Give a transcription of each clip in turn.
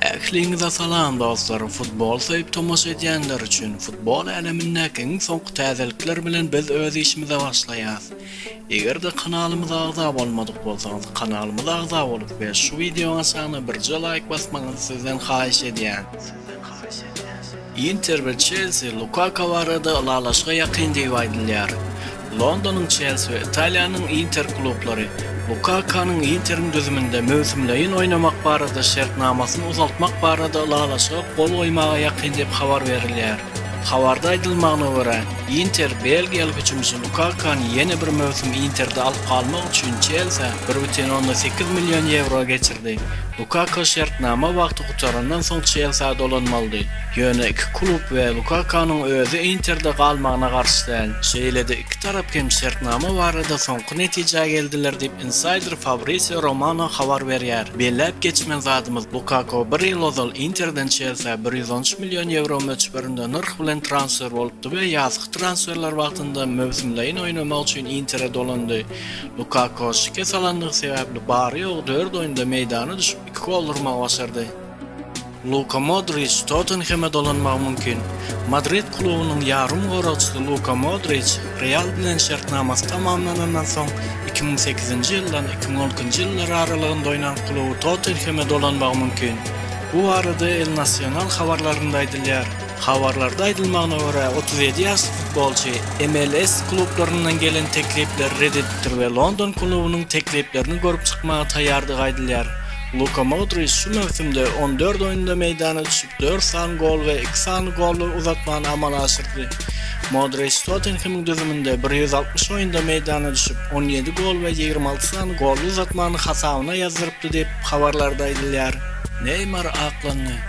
Ähliňize salam dostlar futbol söýüp tomaşa edýänler üçin futbol älemindäki iň soňky täzelikler bilen biz öz işimize başlaýas. Egerde kanalymyza agza bolmadyk bolsaňyz kanalymyza agza bolup we şu wideoň aşagyna birje laýk basmagyňyzy sizden haýyş edýän. Inter we Çelsi Lukaku barada ylalaşyga ýakyn diýip aýdylýar. Londonyň Çelsi we Italiýanyň Inter klublary Lukakanyň Interiň düzüminde möwsümleýin oýnamak barada şertnamasyny uzaltmak barada ylalaşyga gol goýmaga ýakyn diýip habar berilýär. Habarda aýdylmagyna görä, Inter belgiýaly hüjümçi Lukakany ýene bir möwsüm Interde alyp galmak üçin Çelsä bir бүтin ondan sekiz million ýewro geçirdi. Lukaku şertnama wagty gutarandan soň Çelsiä dolanmalydy. Ýöne iki klub we Lukakanyň özi Interde galmagyna garşy däl. Şeýle-de iki tarap hem şertnama barada soňky netijä geldiler diýip, insaýder Fabrisio Romano habar berýär. Belläp geçmeli zadymyz, Lukaku bir ýyl ozal Interden Çelsiä bir ýüz on üç million ýewro möçberinde nyrh bilen transfer bolupdy we ýazky transferler wagtynda möwsümlaýyn oýnamak üçin Intere dolandy. Lukaku şikes alandygy sebäpli bary-ýogy dört oýunda meýdana düşüp, iki gol urmagy başardy. Luka Modriç Tottenheme dolanmagy mümkin. Madrid klubunyň ýarym goragçysy Luka Modriç Real bilen şertnamasy tamamlanandan soň iki müň sekizinji ýyldan iki müň on ikinji ýyllar aralygynda oýnan kluby Tottenheme dolanmagy mümkin. Bu barada El Nasional habarlarynda aýdylýar. Habarlarda aýdylmagyna görä, otuz ýedi ýaşly futbolçy MLS klublaryndan gelen teklipleri ret edipdir we london klubunyň tekliplerini görüp çykmaga taýýardygy aýdylýar. Luka Modriç şu möwsümde on dört oýunda meýdana düşüp, dört sany gol we iki sany golly uzatmany amala aşyrdy. Modriç Tottenhemiň düzüminde bir ýüz altmyş oýunda meýdana düşüp, on ýedi gol we ýigrimi alty sany golly uzatmany hasabyna ýazdyrypdy diýip, habarlarda aýdylýar. Neýmar aklandy.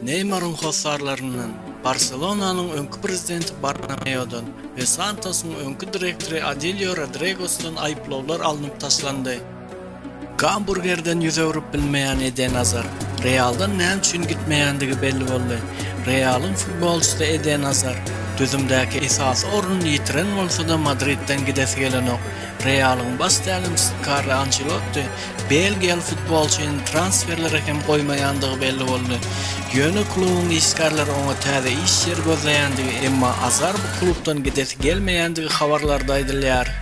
Neýmaryň hossarlaryndan, Barselonanyň öňki prezidenti Bartomeodan we Santosyň öňki direktory Adilio Rodregosdan aýyplawlar alnyp taşlandy. Gamburgerden ýüz öwrüp bilmeýän Eden Azar, Realdan näme üçin gitmeýändigi belli boldy. Realyň futbolçysy Eden Azar, düzümdäki esasy ornuny ýitiren bolsa-da Madridden gidesi gelenok. Realyň baş tälimçisi Karlo Ançelotti Belgiýaly futbolçynyň transferlere hem goýmaýandygy belli boldy. Ýöne klubuň işgärleri oňa täze iş ýeri gözleýändigi, emma Azar bu klubdan gidesi gelmeýändigi habarlarda aýdylýar.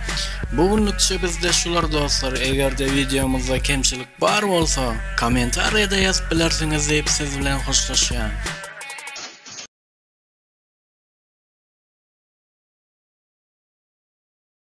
Bu günlükçe bizde şular dostlar, egerde wideomyzda kemçilik bar bolsa, kommentariýada ýazyp bilersiňiz diýip siz bilen hoşlaşýan.